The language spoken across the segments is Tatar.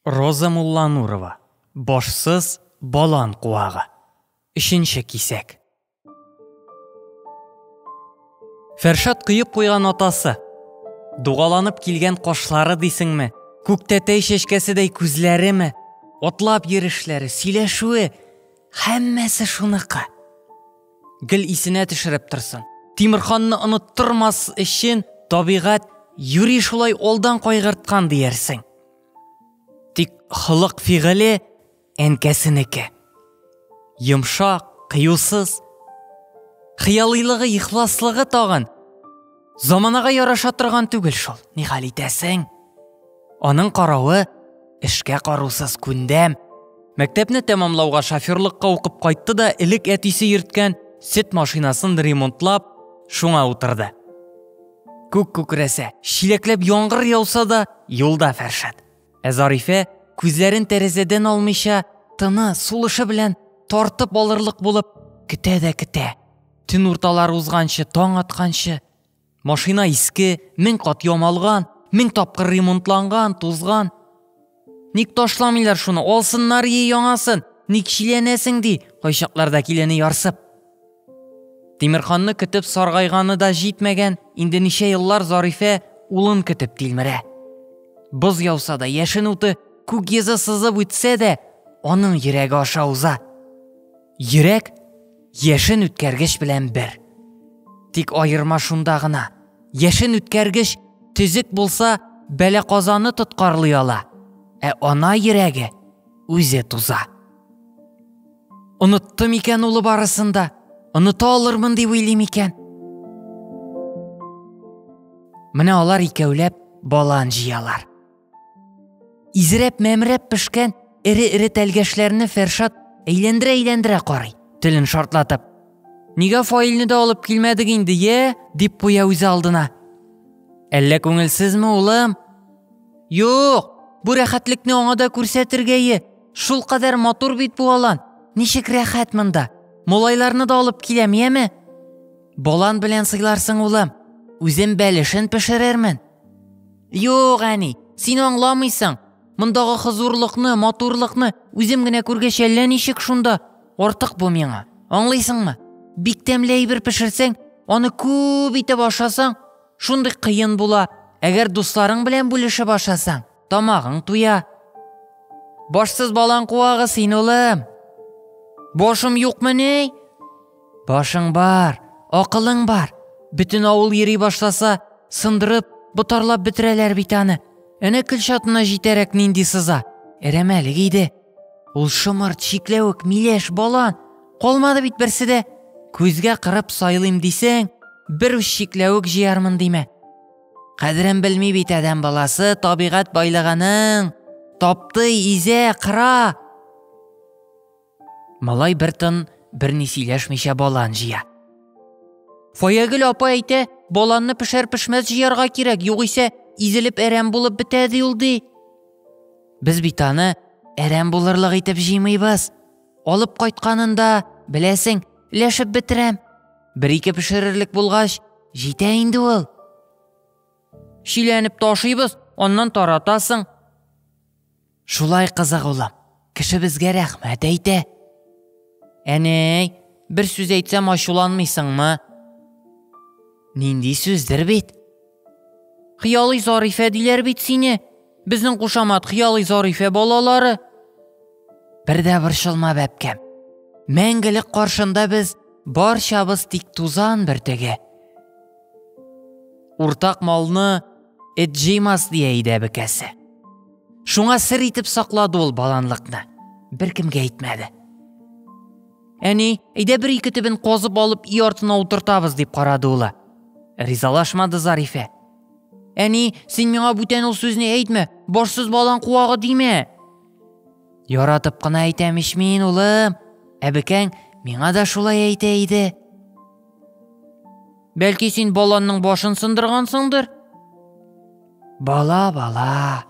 Роза Мулланурова Башсыз балан куагы. Өченче кисәк. Фәршат кыеп куйган атасы. Дугаланып килгән кашлары дисеңме? Күктәтәй чәчкәседәй күзләреме? Атлап йөрешләре, сөйләшүе, һәммәсе шуныкы. Гел исенә төшереп торсын. Тимирханны оныттырмас өчен табигать юри шулай алдан кайгырткан диярсең. Тик холык-фигыле әнкәсенеке. Йомшак, кыюсыз. Хыялыйлыгы, ихласлыгы тагын. Заманага яраша торган түгел шул. Ни хәл итәсең? Аның каравы эшкә карусыз күндәм. Мәктәпне тәмамлауга шоферлыкка укып кайтты да элек әтисе йөрткән сөт машинасын ремонтлап, шуңа утырды. Күк күкрәсә, чиләкләп яңгыр яуса да, юлда Фәршат. Ә Зарифә, күзләрен тәрәзәдән алмыйча, тыны, сулышы белән тартып алырлык булып, көтә дә көтә. Төн урталар узганчы, таң атканчы. Машина иске, мең кат ямалган, мең тапкыр ремонтланган, тузган. Ник ташламыйлар шуны, алсыннар е яңасын, ник чиләнәсең ди, кайчакларда килене ярсып. Тимирханны көтеп саргайганы да җитмәгән, инде ничә еллар Зарифә улын көтеп тилмерә. Боз яуса да, яшен уты күк йөзе сызып үтсә дә, аның йөрәге аша уза. Йөрәк яшен үткәргеч белән бер. Тик аерма шунда гына, яшен үткәргеч төзек булса, бәлә казаны тоткарлый ала, ә ана йөрәге үзе туза. Оныттым икән улы барысын да, оныта алырмын дип уйлыйм икән. Менә алар икәүләп балан җыялар. Изрәп-мәмрәп пешкән эре-эре тәлгәшләрне Фәршат әйләндерә-әйләндерә карый, телен шартлатып. Нигә фаилне дә алып килмәдек инде, е? дип куя үзе алдына. Әллә күңелсезме, улым? Юк, бу рәхәтлекне аңа да күрсәтергә е. Шул кадәр матур бит бу алан. Ничек рәхәт монда. Молайларны да алып киләм, яме? Болан белән сыйларсың, улым. Үзем бәлешен пешерермен. Юк, әни, син аңламыйсың. Мондагы хозурлыкны, матурлыкны үзем генә күргәч әллә ничек шунда. Артык бу миңа. Аңлыйсыңмы? Бик тәмле әйбер пешерсәң, аны күп итеп ашасаң, шундый кыен була. Әгәр дусларың белән бүлешеп ашасаң, тамагың туя. Башсыз балан куагы син, улым. Башым юкмыни? Башың бар, акылың бар. Бөтен авыл йөри башласа, сындырып, ботарлап бетерәләр бит аны. Әнә Көлчатына җитәрәк нинди сыза. Әрәмәлек иде. Ул шомырт, чикләвек, миләш, балан. Калмады бит берсе дә. Күзгә кырып сайлыйм дисең, бер үз чикләвек җыярмын димә. Кадерен белми бит адәм баласы табигать байлыгының. Тапты, изә, кыра. Малай бер тын, бер ни сөйләшмичә балан җыя. Фаягөл апа әйтә, баланны пешәр-пешмәс җыярга кирәк, югыйсә изелеп әрәм булып бетә ди ул ди. Без бит аны әрәм булырлык итеп җыймыйбыз. Алып кайтканында, беләсең, ләшеп бетерәм. Бер-ике пешерерлек булгач, җитә инде ул. Шиләнеп ташыйбыз, аннан таратасың. Шулай кызык улым. Кешебезгә рәхмәт әйтә. Әнәй, бер сүз әйтсәм ачуланмыйсыңмы? Нинди сүздер бит? Хыялый Зарифә диләр бит сине. Безнең кушамат Хыялый Зарифә балалары. Бер дә борчылма, бәбкәм. Мәңгелек каршында без барчабыз тик тузан бөртеге. Уртак малны эт җыймас дия иде әбекәсе. Шуңа сер итеп саклады ул баланлыкны. Беркемгә әйтмәде. Әни, әйдә бер ике төбен козып алып өй артына утыртабыз, дип карады улы. Ризалашмады Зарифә. Әни, син миңа бүтән ул сүзне әйтмә, башсыз балан куагы димә. Яратып кына әйтәм ич мин, улым. Әбекәң миңа да шулай әйтә иде. Бәлки син баланның башын сындыргансыңдыр? Бала, бала,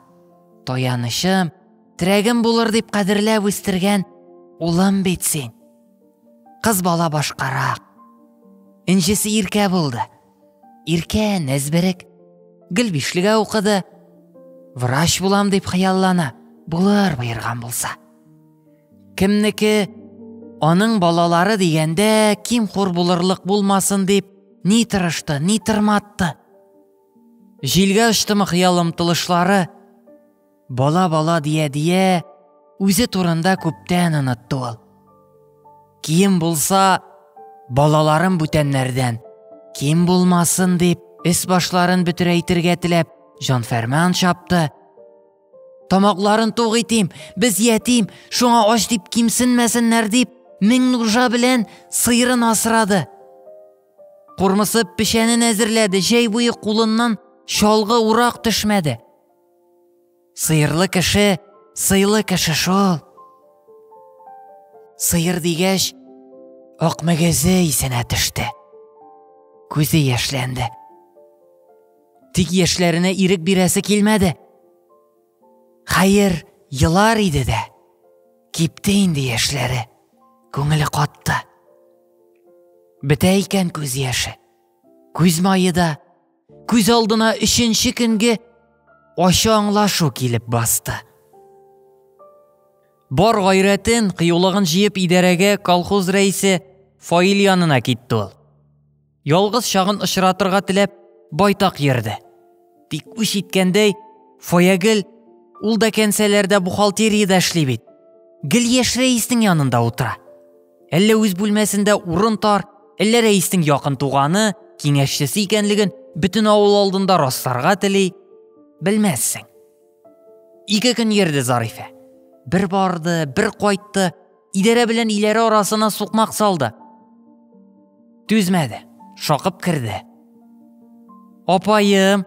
таянычым, терәгем булыр дип кадерләп үстергән улым бит син. Кыз бала башкарак. Инжесе иркә булды. Иркә нәзберек. Гөлбишлегә укыды. Врач булам дип хыяллана. Булыр боерган булса. Кемнеке аның балалары дигәндә ким хур булырлык булмасын дип ни тырышты, ни тырматты. Җилгә очтымы хыял омтылышлары, бала-бала дия-дия, үзе турында күптән онытты ул. Кием булса, балаларым бүтәннәрдән, ким булмасын дип, эс башларын бөтерәйтергә теләп, җанфәрман чапты. Тамакларын туг итим, без ятим, шуңа ач дип кимсенмәсеннәр дип, мең нужа белән сыйрын асрады. Курмысып печәнен әзерләде, җәй буе кулыннан чалгы урак төшмәде. Сыерлы кеше, сыйлы кеше шул. Сыер дигәч, ак мөгезе исенә төште. Күзе яшьләнде. Тик яшьләренә ирек бирәсе килмәде. Хәер, елар иде дә. Кипте инде яшьләре. Күңеле катты. Бетә икән күз яше. Күз мае да күз алдына өченче көнге ачы аңлашу килеп басты. Бар гайрәтен, кыюлыгын җыеп идарәгә колхоз рәисе Фаил янына китте ул. Ялгыз чагын очратырга теләп, байтак йөрде. Тик үч иткәндәй, Фаягел, ул да кәнсәләрдә бухгалтериядә эшли бит. Гел яшь рәиснең янында утыра. Әллә үз бүлмәсендә урын тар, әллә рәиснең якын туганы, киңәшчесе икәнлеген бөтен авыл алдында расларга тели, белмәссең. Ике көн йөрде Зарифә. Бер барды, бер кайтты, Идарә белән иләре арасына сукмак салды. Түзмәде, шакып керде. Апаем,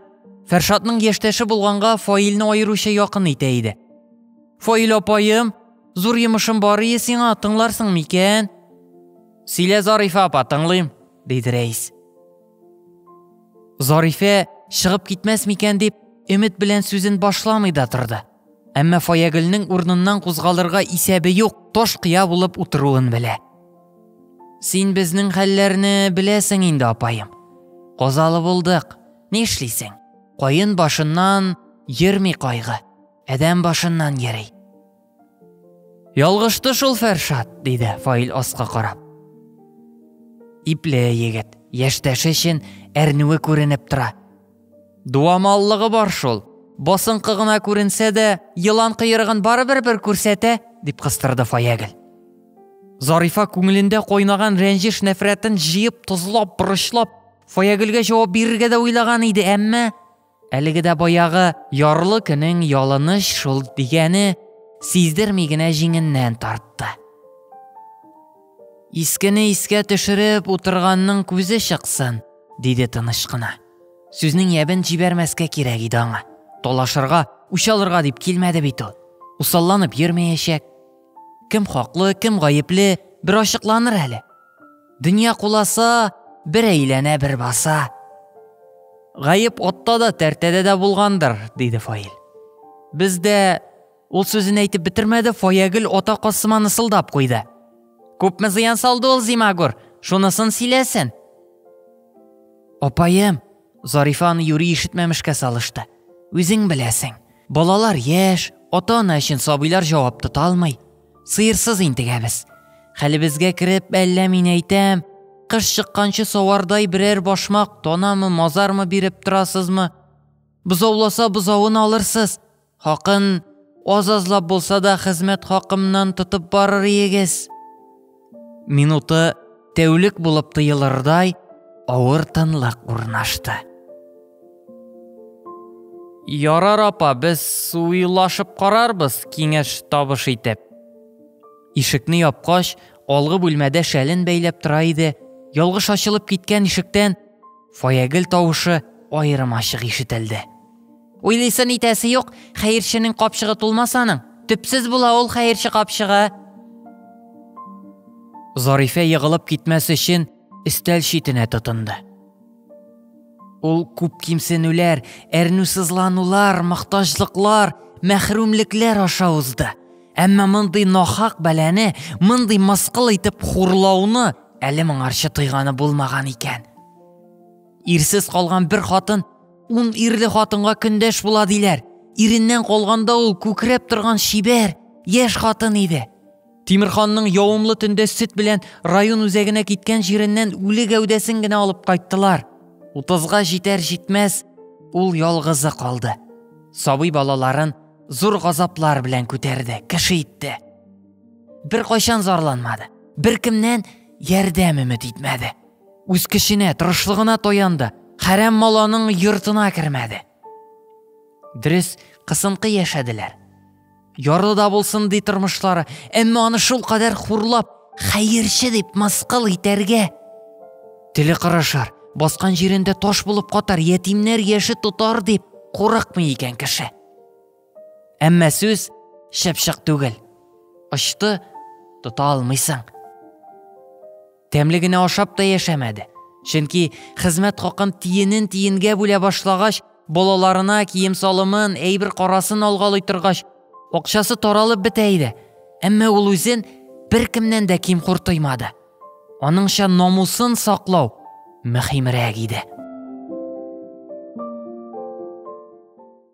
Фәршатның яшьтәше булганга Фаилне аеруча якын итә иде. Фаил апаем, зур йомышым бар ие сиңа, тыңларсың микән? Сөйлә, Зарифа апа, тыңлыйм, диде рәис. Зарифә чыгып китмәс микән дип, өмет белән сүзен башламый да торды. Әмма Фаягөлнең урыныннан кузгалырга исәбе юк, таш кыя булып утыруын белә. Син безнең хәлләрне беләсең инде, апаем. Казалы булдык. Ни эшлисең? Каен башыннан йөрми кайгы. Адәм башыннан йөри. Ялгышты шул Фәршат, диде Фаил аска карап. Ипле егет, яшьтәше өчен әрнүе күренеп тора. Дуамаллыгы бар шул. Басынкы гына күренсә дә, елан кыерыгын барыбер бер күрсәтә, дип кыстырды Фаягел. Зарифа күңелендә кайнаган рәнҗеш нәфрәтен җыеп, тозлап, борычлап, Фаягелгә җавап бирергә дә уйлаган иде, әмма әлеге дә баягы ярлы көнең ялыныш шул дигәне сиздерми генә җиңеннән тартты. Искене искә төшереп утырганның күзе чыксын, диде тыныч кына. Сүзнең ябен җибәрмәскә кирәк иде аңа. Талашырга, үч алырга дип килмәде бит ул. Усалланып йөрмәячәк. Кем хаклы, кем гаепле, бер ачыкланыр әле. Дөнья куласа, бер әйләнә, бер баса. Гаеп отта да, тәртәдә дә булгандыр, диде Фаил. Бездә Ул сүзен әйтеп бетермәде, Фаягөл ата касыма нысылдап куйды. Күпме зыян салды ул Зимагур? Шунысын сөйләсен. Апаем, Зарифа аны юри ишетмәмешкә салышты. Үзең беләсең. Балалар яшь, ата-ана өчен сабыйлар җавап тота алмый. Сыерсыз интегәбез. Хәлебезгә кереп, әллә мин әйтәм, кыш чыкканчы савардай берәр башмак, тонамы, мазармы биреп торасызмы? Бозауласа бозавын алырсыз, Хакын аз-азлап булса да хезмәт хакымнан тотып барыр иегез. Минуты тәүлек булып тыелырдай авыр тынлык урнашты. Ярар апа, без суйлашып карарбыз, киңәш табыш итеп. Ишекне япкач, алгы бүлмәдә шәлен бәйләп тора иде. Ялгыш ачылып киткән ишектән Фаягел тавышы аерым ачык ишетелде. Уйлыйсын итәсе юк, хәерченең капчыгы тулмас аның. Төпсез була ул хәерче капчыгы. Зарифә егылып китмәс өчен өстәл читенә тотынды. Ул күп кимсенүләр, әрнүсызланулар, мохтаҗлыклар, мәхрүмлекләр аша узды. Әмма мондый нахак бәләне, мондый мыскыл итеп хурлауны әле моңарчы тойганы булмаган икән. Ирсез калган бер хатын ун ирле хатынга көндәш була диләр. Иреннән калганда ул күкрәп торган шибәр, яшь хатын иде. Тимирханның явымлы төндә сөт белән район үзәгенә киткән җиреннән үле гәүдәсен генә алып кайттылар. Утызга җитәр җитмәс ул ялгызы калды. Сабый балаларын зур газаплар белән күтәрде, кеше итте. Бер кайчан зарланмады, бер кемнән ярдәм өмет итмәде. Үз кешенә, тырышлыгына таянды, хәрәм маланың йортына кермәде. Дөрес, кысынкы яшәделәр. Ярлы да булсын ди тормышлары, әмма аны шул кадәр хурлап, хәерче дип мыскыл итәргә. Теле кырышар, баскан җирендә таш булып катар, ятимнәр яше тотар дип курыкмый икән кеше. Әмма сүз чыпчык түгел. Очты, тота алмыйсың. Тәмле генә ашап та яшәмәде. Чөнки хезмәт хакын тиенен тиенгә бүлә башлагач, балаларына кием салымын, әйбер карасын алгалый торгач, акчасы таралып бетә иде. Әмма ул үзен беркемнән дә ким кортоймады. Аныңча намусын саклау мөһимрәк иде.